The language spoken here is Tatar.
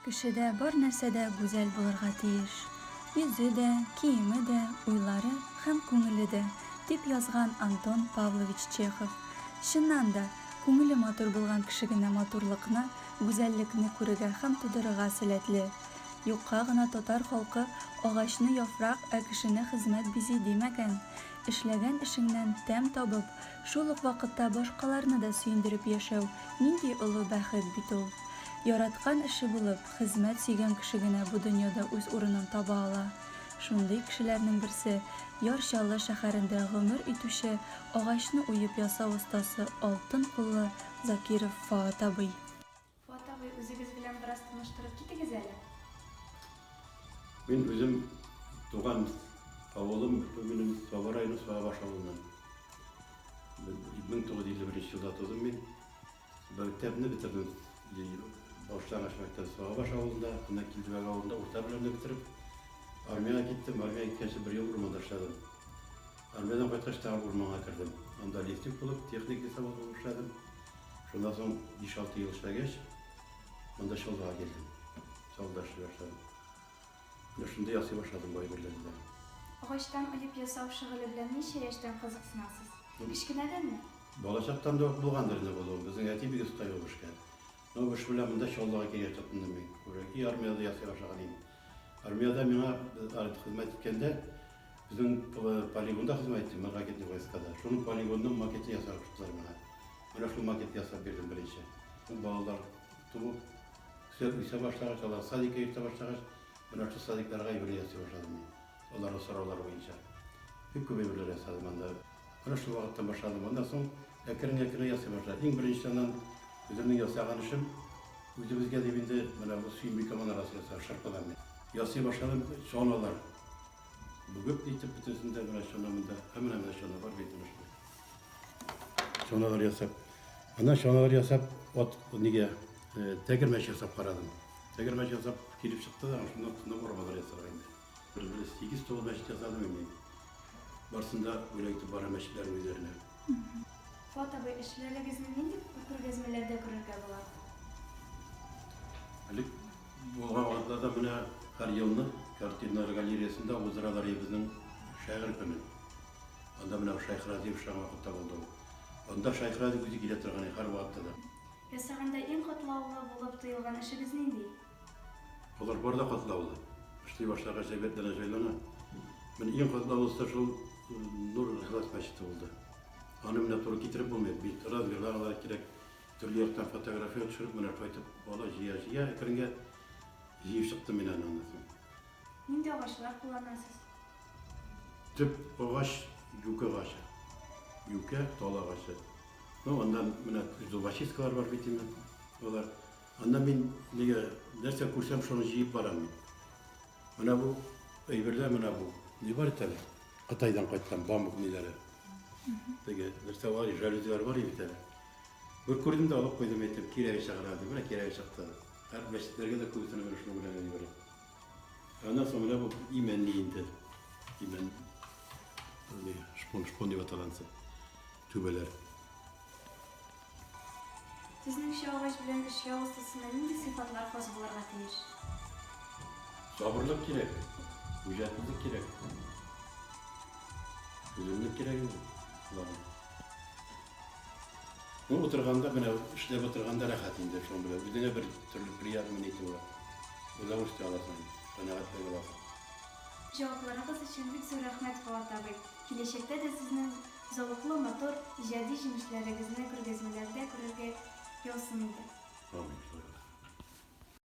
Кешедә бар нәрсә дә гүзәл булырга тиеш. Йөзе дә, киеме дә, уйлары һәм күңеле дә, дип язган Антон Павлович Чехов. Чыннан да, күңеле матур булган кеше генә матурлыкны, гүзәллекне күрергә һәм тудырырга сәләтле. Юкка гына татар халкы Агачны яфрак, ә кешене хезмәт бизи димәгән. Эшләгән эшеңнән тәм табып, Шул ук вакытта башкаларны да сөендереп яшәү, нинди олы бәхет бит ул! Яраткан эше булып, хезмәт сөйгән кеше генә бу дөньяда үз урынын таба ала. Шундый кешеләрнең берсе, Яр Чаллы шәһәрендә гомер итүче, агачны уеп ясау остасы, алтын куллы Закиров Фоат абый. Фуат абый, үзегез белән бераз таныштырып китегез әле. Мин үзем туган авылым минем Саба районы Сабабаш авылыннан. 1951 елда тудым мин. Мәктәпне бетердем. Башлангыч мәктәп Сабабаш авылында, анда Килдебәк авылында урта белемне бетереп, армияга киттем. Армияга киткәнче бер ел урманда эшләдем. Армиядан кайткач тагы урманга кердем. Анда лифтик булып, техник лесовоз булып эшләдем. Шуннан соң биш-алты ел эшләгәч, монда Чаллыга килдем. Чаллыда эшли башладым. Менә шунда ясый башладым бай берләнләр. Агачтан оеп ясау шөгыле белән ничә яшьтән кызыксынасыз? Кечкенәдәнме? Балачактан да ук булгандыр инде бу. Безнең әти бик оста иде бу эшкә. Менә бу эш белән монда Чаллыга килгәч тотындым мин. Уже и армиядә ясый башлаган идем. Армиядә миңа хезмәт иткәндә, безнең полигонда хезмәт иттем, мин ракетный войскада. Шуның полигонның макетын ясарга куштылар миңа. Менә шул макетны ясап бирдем беренче. Ул балалар туып, үсә башлагач, алар садикка йөртә башлагач, менә шул садикларга әйберләр ясый башладым мин. Аларга сораулар буенча бик күп әйберләр ясадым анда. Менә шул вакыттан башладым. Аннан соң әкрен-әкрен ясый башладым. Иң беренчедән ан үземнең ясаган эшем үзебезгә дип инде менә бу Сөембикә манарасы ясадым шырпыдан мин. Ясый башладым чаналар. Бүгеп итеп бөтенесен дә менә чана монда. Ә менә менә чана бар бит менә шул. Чаналар ясап. Аннан чаналар ясап, от нигә тәгәрмәч ясап карадым. Тәгәрмәч ясап килеп чыкты да, шуннан соң арбалар ясарга инде. Бер бер сигез тулы мәчет ясадым инде. Барсын да бүләк итеп барам мәчетләрнең үзләренә. Фуат абый, эшләрегезне нинди күргәзмәләрдә күрергә була? Элек булган вакытларда менә һәр елны картиналар галереясында уздыралар иде безнең шагыйрь көнен. Анда менә Шайх Разиев шушы вакытта булды ул. Анда Шайх Разиев үзе килә торган иде һәрвакытта да. Ясаганда иң катлаулы булып тоелган эшегез нинди? Алар бар да катлаулы. Эшли башлагач, әйбәт бәлә җайлана. Менә иң катлаулысы шул Нур Ихлас мәчете булды. Аны менә туры китереп булмый, бит разверналар кирәк. Төрле яктан фотография төшереп, менә кайтып бала җыя-җыя әкренге җыеп чыктым мин аны аннан соң. Нинди агачлар кулланасыз? Төп агач юкә агачы. Юкә, тал агачы. Ну, аннан менә зубочисткалар бар бит инде. Алар Анда мин нигә нәрсә күрсәм шуны җыеп барам мин. Менә бу әйберләр менә бу. Ни бар икән? Кытайдан кайткан бамбук ниләре. Теге нәрсә бар, жалюзилар бар иде бит әле. Бер күрдем дә алып куйдым, әйттем, кирәге чыгар дип. Менә кирәге чыкты. Һәр мәчетләргә дә күбесенә менә шуны белән генә җибәрә. Аннан соң менә бу имәнли инде. Имән шпон, шпон дип аталган түбәләр. Сезнеңчә, агач белән эшкә остасына нинди сыйфатлар хас булырга тиеш? Сабырлык кирәк, үҗәтлелек кирәк. Түземлек кирәк инде шуларны. Ну, утырганда менә, эшләп утырганда рәхәт инде шуның белән. Үзеңә бер төрле приятно нити була. Удовольствие аласың, канәгатьлек аласың. Җавапларыгыз өчен бик зур рәхмәт, Фоат абый! Киләчәктә дә сезнең Зәвыклы, матур, иҗади җимешләрегезне күргәзмәләрдә күрергә язсын иде. Амин.